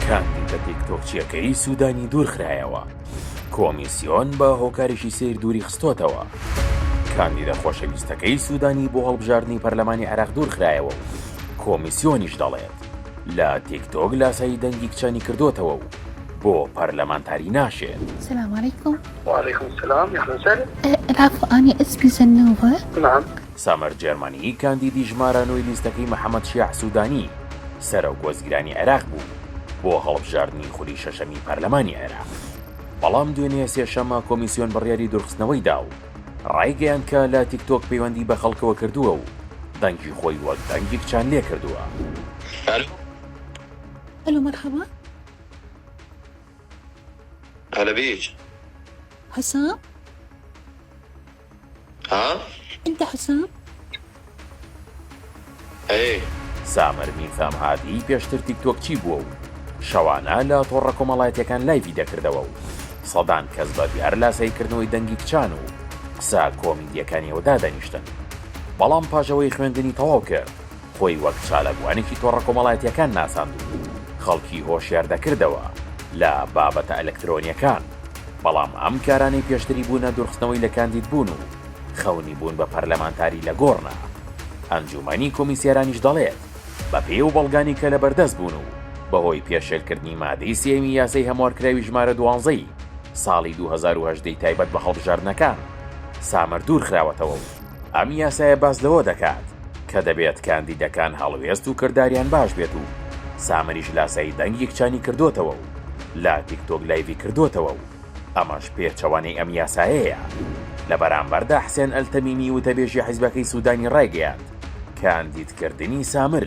کاندیدە تیکتۆکچیەکەی سودانی دوورخرایەوە، کۆمیسیۆن بە هۆکارێکی سەیر دووریخستۆتەوە، کاندیدە خۆشەویستەکەی سودانی بۆ هەڵبژاردنی پەرلەمانی عێراق دوورخرایەوە و کۆمیسیۆنیش دەڵێت، لە تیکتۆک لاسایی دەنگی کچانی کردۆتەوە و بۆ پەرلەمانتاری ناشێت. سلام علیکم. وعلیکم سلام یخنسر. الاف آنی اسمی زنوبە. نعم. سامەر جێرمەنی، کاندیدی ژمارە نۆی لیستەکەی محەمەد شیاع سودانی، سەرۆک وەزیرانی عێراق بوو، بۆ هەڵبژاردنی خولی شەشەمی پەرلەمانی عێراق. بەڵام دوێنێ سێشەممە کۆمیسیۆن بڕیاری دوورخستنەوەی دا و ڕایگەیاند کە لە تیکتۆک پەیوەندی بە خەڵکەوە کردووە و دەنگی خۆی وەک دەنگی کچان لێ کردووە. هەلۆ مەرحەبا. هەلە بیچ. حەسام. ها انت حسام؟ ئەرێ. سامر میسام هادی پێشتر تیکتۆکچی بووە و شەوانە لە تۆڕە کۆمەڵایەتیەکان لایڤی دەکردەوە و سەدان کەس بە بیار لاسایی کردنەوەی دەنگی کچان و قسە کۆمیدیەکانیەوە دادەنیشتن بەڵام پاش ئەوەی خوێندنی تەواو کرد خۆی وەک چالاکوانێکی تۆڕە کۆمەڵایەتییەکان ناساند و خەڵکی هۆشیار دەکردەوە لە بابەتە ئەلەکترۆنییەکان، بەڵام ئەم کارانەی پێشتری بوونە دوورخستنەوەی لە کاندیدبوون و خەونی بوون بە پەرلەمانتاری لە گۆڕنە. ئەنجوومەنی کۆمیسیارانیش دەڵێت، بەپێی ئەو بەڵگانەی کە لەبەردەست بوون و بەهۆی پێشێلکردنی مادەی سێیەمی یاسای هەموارکراوی ژمارە دوانزە ی ساڵی دوو هەزار و هەژدە ی تایبەت بە هەڵبژاردنەکان، سامەر دوورخراوەتەوە و. ئەم یاسایە باس لەوە دەکات کە دەبێت کاندیدەکان هەڵوێست و کرداریان باش بێت و سامریش لاسایی دەنگی کچانی کردۆتەوە و لە تیک تۆک لایڤی کردۆتەوە و ئەمەش پێچەوانەی ئەم یاسایەیە. لە بەرامبەردا حسێن ئەلتەمیمی وتەبێژی حیزبەکەی سودانی رایگەیاند کاندیدکردنی سامر،